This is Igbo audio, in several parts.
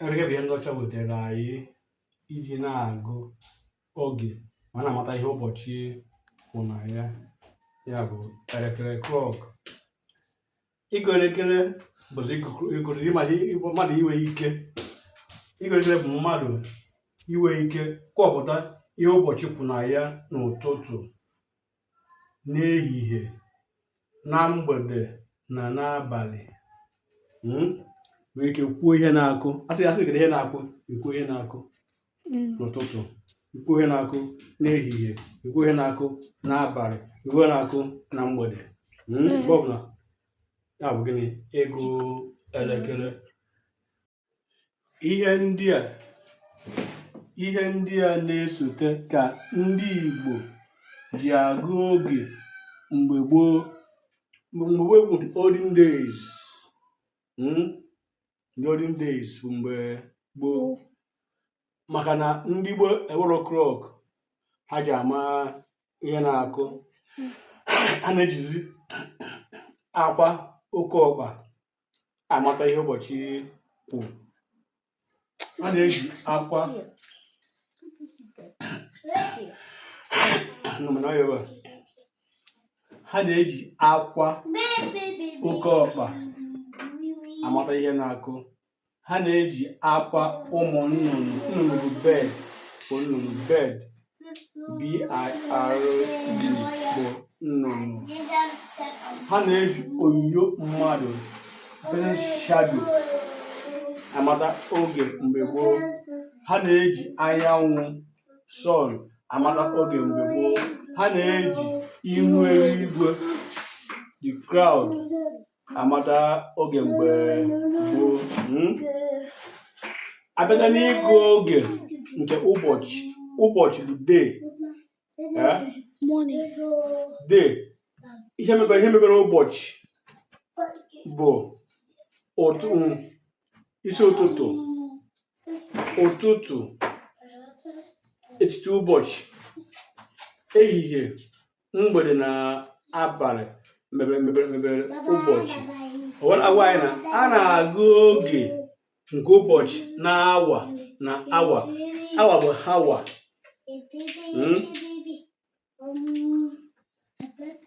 elekere bụ ihe ndị ọcha wetara anyị iji na-agụ oge ma na-amata ihe ụbọchị kwụ na ya ya bụ elekere clock ịgụ elekere bụzi mmadụ inwe ike ịgụ elekere bụ mmadụ inwe ike kọpụta ihe ụbọchị kwụ na ya n'ụtụtụ n'ehihie na mgbede na n'abalị hmm? nwere ike kwuo ihe na-akụ a sị a sị gị ihe na-akụ ikwu ihe na-akụ hmm. n'ụtụtụ ikwu ihe na-akụ n'ehihie ikwu ihe na-akụ n'abalị ikwu ihe na-akụ na mgbede hmm? mgbe ọbụla ya bụ gịnị ịgụ elekere ihe ndị a ihe ndị a na-esote ka ndị Igbo ji agụ oge mgbe gboo mgbe gboo bụ olden days hmm? olden days bụ mgbe gboo maka na ndị gboo enwero clock ha ji ama ihe na-akụ a na-ejizi akwa oke ọkpa amata ihe ụbọchị kwụ ha na-eji akwa ha na-eji akwa oke ọkpa amata ihe na-akụ ha na-eji akwa ụmụ nnụnụ nnụnụ bird bụ nnụnụ bird BIRD bụ nnụnụ ha na-eji onyinyo mmadụ the shadow amata oge mgbe gboo ha na-eji anyanwụ sun amata oge mgbe gboo ha na-eji ihu eluigwe the cloud amata oge mgbe gboo hmm? a bịazịa n'ịgụ oge nke ụbọchị ụbọchị bụ day eh? day ihe mebere ihe mebere ụbọchị bụ otu isi ụtụtụ ụtụtụ etiti ụbọchị ehihie mgbede na abalị mebere ụbọchị o wee na-agwa anyị na a na-agụ oge nke ụbọchị na awa na awa awa bụ hour Mm.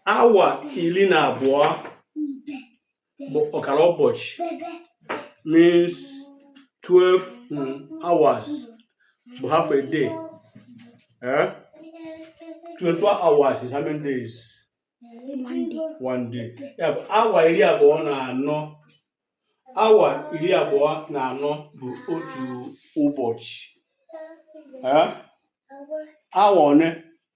awa iri na abụọ bụ ọkara ụbọchị means 12 mm, hours bụ half a day eh? 24 hours is how many days one day ya bụ awa iri abụọ na anọ awa iri abụọ na anọ bụ otu ụbọchị Eh? awa one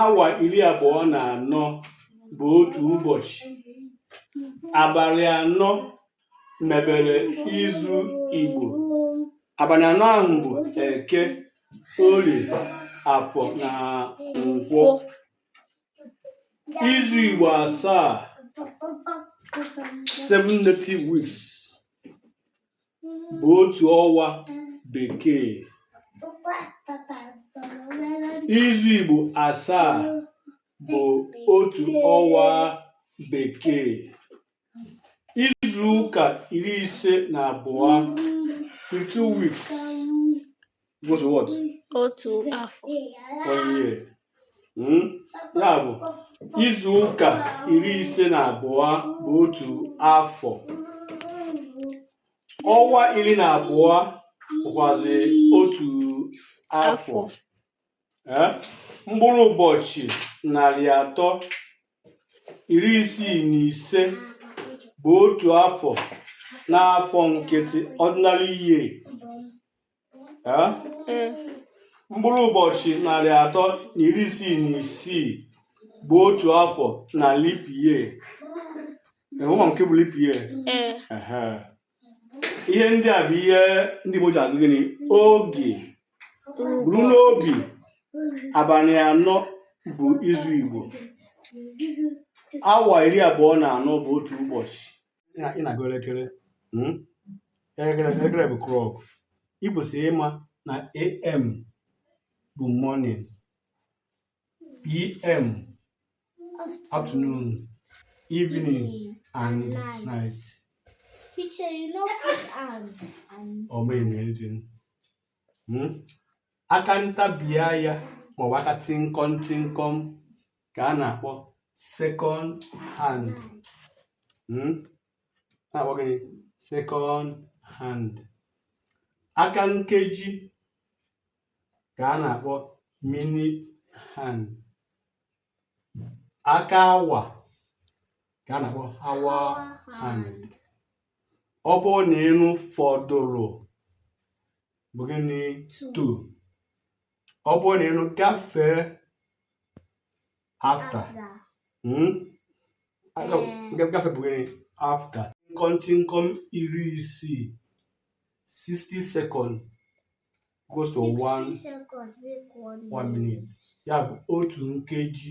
awa iri abụọ na anọ bụ otu ụbọchị abalị anọ mebere izu Igbo abalị anọ ahụ bụ eke orie afọ na nkwọ izu Igbo asaa seven native weeks bụ otu ọnwa bekee izu Igbo asaa bụ otu ọnwa bekee izu ụka iri ise na abụọ 52 weeks Goes what? Otu afọ. One year. Hmm? Ya bụ izu ụka iri ise na abụọ bụ otu afọ. Ọnwa iri na abụọ bụkwazi otu afọ. Eh? Mkpụrụ ụbọchị narị atọ iri isii na ise bụ otu afọ n'afọ nkịtị ordinary year mkpụrụ ụbọchị narị atọ na iri isii na isii bụ otu afọ na leap year ị ma nke bụ leap year ihe ndị a bụ ihe ndị Igbo ji agụ gịnị oge buru n'obi abalị anọ bụ izu Igbo awa iri abụọ na anọ bụ otu ụbọchị ị na- ị na-agụ elekere mm? elekere elekere bụ clock ị kwesịrị ịma na am bụ morning pm afternoon evening and night Teacher, you no put and and ọ meghị na anything Mm? aka ntabi anya maọbụ aka tịnkọm tịnkọm ka a na-akpọ second hand hmm? na-akpọ gịnị second hand aka nkeji ka a na-akpọ minute hand aka awa ka a na-akpọ hour hand ọ bụrụ na ị nụ fọdụrụ bụ gịnị to ọ bụrụ na ị nụ gafee after hmm? gafee bụ gịnị after nkọntịnkọm iri isii 60 seconds equals to one one minute ya bụ otu nkeji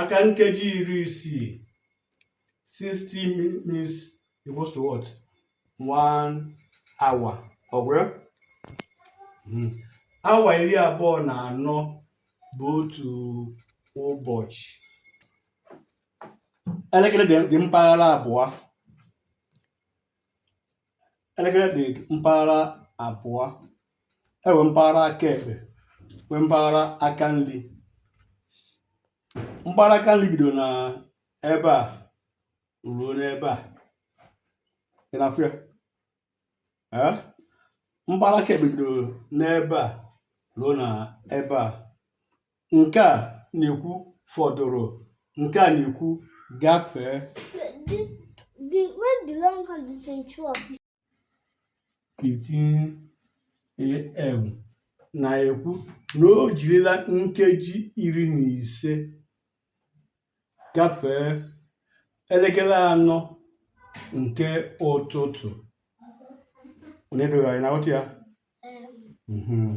aka nkeji iri isii 60 minutes equals to what one hour ọ gwụrụ hmm. awa iri abụọ na anọ bụ otu ụbọchị elekere dị mpaghara abụọ elekere dị mpaghara abụọ e nwee mpaghara aka ekpe nwee mpaghara aka nri mpaghara aka nri bido na ebe a ruo n'ebe a ị na-afụ ya ee mpaghara aka ekpe bido n'ebe a ruo na ebe a nke a na-ekwu fọdụrụ nke a na-ekwu gafee This, the, when the long hand is in two of these, 15 am na-ekwu na o jirila nkeji iri na ise gafee elekere anọ nke ụtụtụ onye dịghị na-aghọta ya um, Mhm.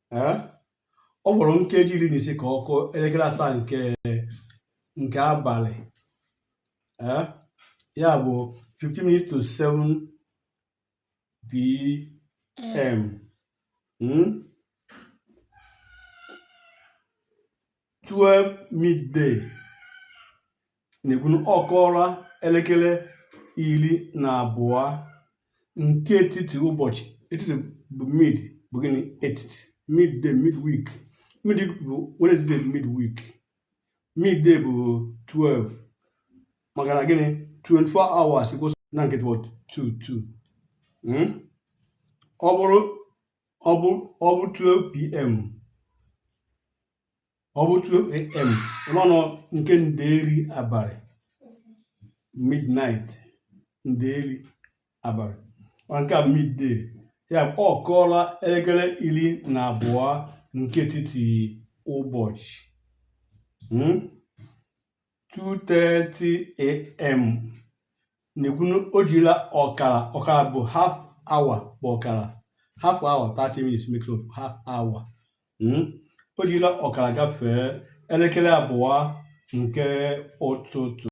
ọ fọrọ nkeji iri na ise ka ọ kụọ elekere asaa nke nke abalị ya bụ 15 minutes to 7 pm hmm? 12 midday na-ekwu na ọ kụọla elekere iri na abụọ nke etiti ụbọchị etiti bụ mid bụ gịnị etiti midday midweek mid bụ Wednesday bụ midweek midday bụ 12 maka na gịnị 24 hours kwụsị n'etiti bụ 12 12 ọ bụrụ ọ bụ ọ bụ 12 pm ọ bụ 12 am n'ọnụ nke nderi abalị midnight nderi abalị ọ nke a bụ midday ya bụ ọ kụọla elekere iri na abụọ nke etiti ụbọchị Hmm? 2:30am na-ekwu na o jirila ọkara ọkara bụ half hour bụ ọkara half hour 30 minutes make up half hour hmm? o jirila ọkara gafee elekere abụọ nke ụtụtụ